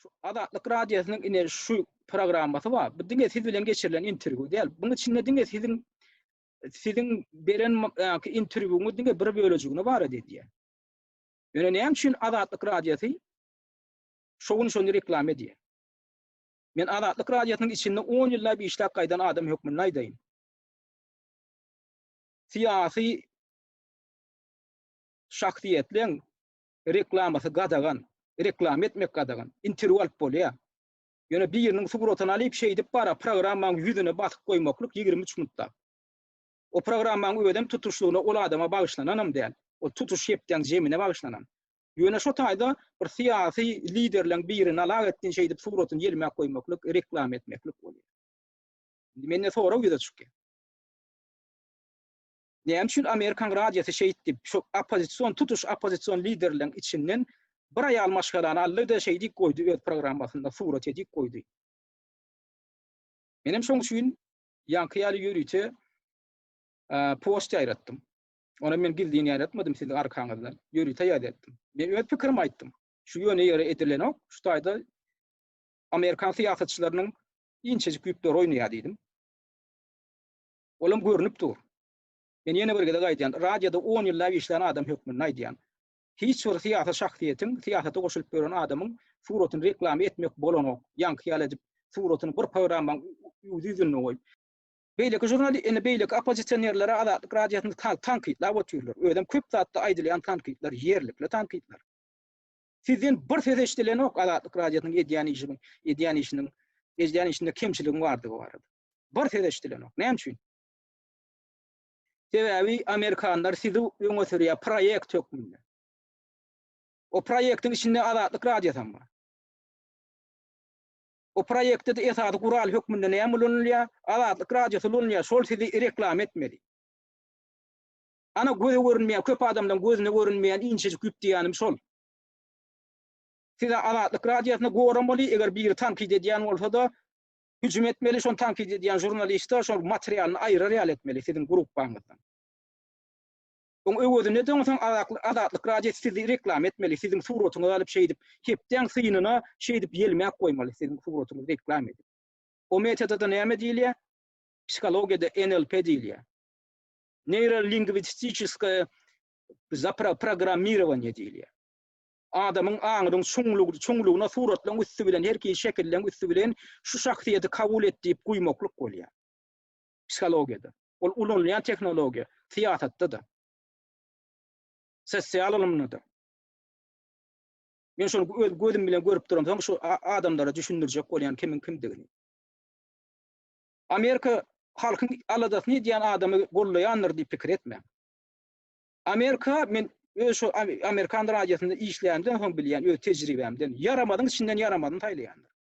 Şu Azatlyk Radiosynyň ine şu programmasy bar. Bu diňe siz bilen geçirilen interwýu däl. Buň içinde diňe siziň siziň beren ýa-ki interwýuňyz diňe bir bölejigini bar edýär. Ýöne näme üçin Azatlyk Radiosy şu gün şony reklama edýär? Men Azatlyk Radiosynyň içinde 10 ýyllap işläp gaýdan adam hökmünde aýdaýyn. Syýasy şahsyýetleň reklamasy gadagan, reklama etmek gadagan, interwýu alyp bolýar. Ýöne biriniň suratyny alyp şeýdip bara programmaň ýüzüne basyp goýmaklyk ýigrimi üç minutda. O programmaň özem tutuşlygyna ol adama bagyşlananam däl. Ol tutuş hepdäň jemine bagyşlanan. Ýöne şo taýda bir syýasy liderleň birini alak etdin şeýdip suratyny ýelmäp goýmaklyk, reklama etmeklik bolýar. Indi mende sorag ýüze çykýar. Näme üçin Amerikan radiosy şeýtdip, şu oppozision, tutuş oppozision liderleriň içinden bir aýal maşgalany aldy-da şeýdip goýdy öz programmasynda surat edip goýdy. Menem şoň üçin ýaňky ýaly ýörite post ýaýratdym. Ony men gizlin ýaýratmadym siziň arkaňyzdan. Ýörite ýaýratdym. Men öz pikirimi aýtdym. Şu ýöne ýere edilenok. Şu taýda amerikan syýasatçylarynyň inçejik ýüpleri oýnaýar diýdim. Olam görnüp dur. Men ýene bir gezek aýdýan, radioda on ýyllap işlän adam hökmünde aýdýan. Hiç bir syýasy şahsyýetiň, syýasata goşulyp ýören adamyň suratyny reklama etmek bolanok, ýaňky ýaly edip suratyny bir programmaň üwdi ýüzünde goýup. Beýleki žurnali, ine beýleki oppozisionerlere Azatlyk radiosyny tankytlap otyrlar. Özem köp zatda aýdylýan tankytlar, ýerlikli tankytlar. Sizden bir söz eşidilenok Azatlyk Radiosynyň edýän işiniň, edýän işiniň, edýän işinde kemçiligiň bardygy barada. Bir söz eşidilenok. Näme üçin? Sebäbi amerikanlar sizi öňe sürýär proýekt hökmünde. O proýektiň içinde Azatlyk Radiosy hem bar. O proýektde esasy gural hökmünde näme ulanylýar? Azatlyk Radiosy ulanylýar. Şol sizi reklama etmeli. Ana göze görünmeýän, köp adamlaň gözüne görünmeýän inçejik ýüp diýýänim şol. Size Azatlyk Radiosyna goramaly, eger biri tankyt edýän bolsa-da, hüjüm etmeli, şony tankyt edýän žurnaliste şol materialyny aýyrar ýaly etmeli siziň gruppaňyzdan. Oň öwezine-de oň soň Azatly, Azatlyk Radiosy sizi reklama etmeli, siziň suratyňyzy alyp şeýdip, hepdäň synyna şeýdip ýelmäp goýmaly siziň suratyňyzy reklama edip. O metoda-da näme diýilýär? Psihologiýada NLP diýilýär. neýrolingwistiçeskaýa zaprogrammirowaniýe diýilýär. Adamyň aňynyň çuňlugy, çuňlugyna suratlaryň üsti bilen, her hili şekilleriň üsti bilen şu şahsyýeti kabul et diýip guýmaklyk bolýar. Psihologiýada. Ol ulanylýan tehnologiýa, syýasatda-da. Sosial ylymda-da. Men şony öz gözüm bilen görüp duramsoň, şu adamlara düşündirjek bolýan kimiň kimdigini. Amerika halkyň aladasyny edýän adamy gollaýandyr diýip pikir etmäň. Amerika men öz şo Amerikan radiosynda işlänimden soň bilýän öz tejribämden ýaramazyň içinden ýaramazyny saýlaýandyr.